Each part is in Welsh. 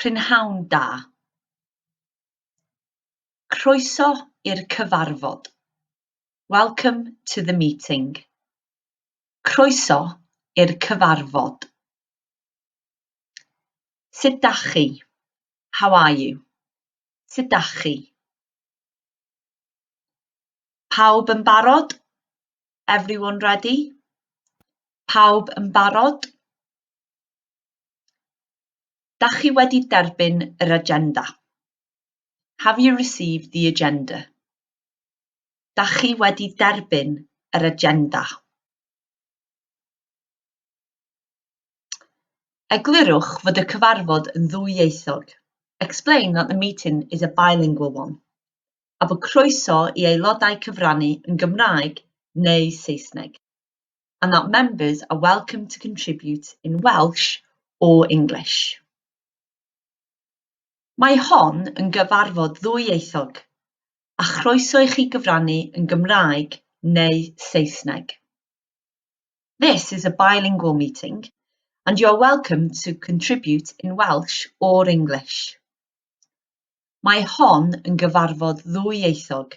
Prynhawn da. Croeso i'r cyfarfod. Welcome to the meeting. Croeso i'r cyfarfod. Sut da chi? How are you? Sut da chi? Pawb yn barod? Everyone ready? Pawb yn barod? Dach chi wedi derbyn yr agenda? Have you received the agenda? Dach chi wedi derbyn yr agenda? Eglurwch fod y cyfarfod yn ddwyieithog. Explain that the meeting is a bilingual one. A bod croeso i aelodau cyfrannu yn Gymraeg neu Saesneg. and that members are welcome to contribute in Welsh or English. Mae hon yn gyfarfod ddwyieithog, a chroeso i chi gyfrannu yn Gymraeg neu Saesneg. This is a bilingual meeting, and you are welcome to contribute in Welsh or English. Mae hon yn gyfarfod ddwyieithog,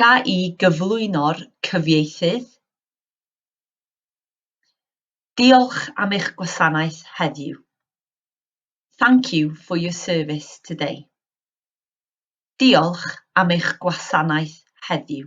Ga'i gyflwyno'r cyfieithydd. Diolch am eich gwasanaeth heddiw. Thank you for your service today. Diolch am eich gwasanaeth heddiw.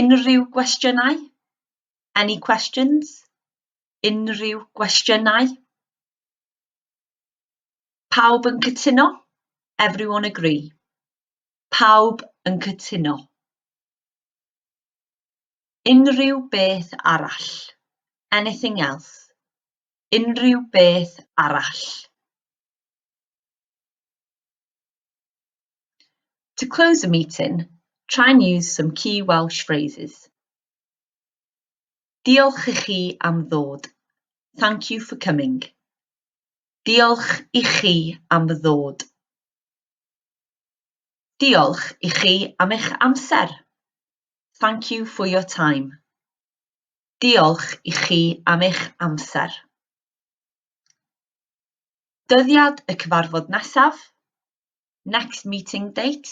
Unrhyw gwestiynau? Any questions? Unrhyw gwestiynau? Pawb yn cytuno? Everyone agree? Pawb yn cytuno. Unrhyw beth arall. Anything else. Unrhyw beth arall. To close a meeting, try and use some key Welsh phrases. Diolch i chi am ddod. Thank you for coming. Diolch i chi am ddod. Diolch i chi am eich amser. Thank you for your time. Diolch i chi am eich amser. Dyddiad y cyfarfod nesaf, next meeting date,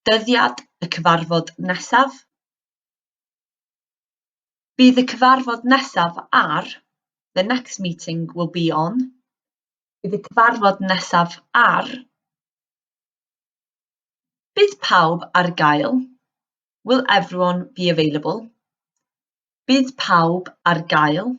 dyddiad y cyfarfod nesaf. Bydd y cyfarfod nesaf ar, the next meeting will be on, bydd y cyfarfod nesaf ar. Bydd pawb ar gael, will everyone be available. Bydd pawb ar gael.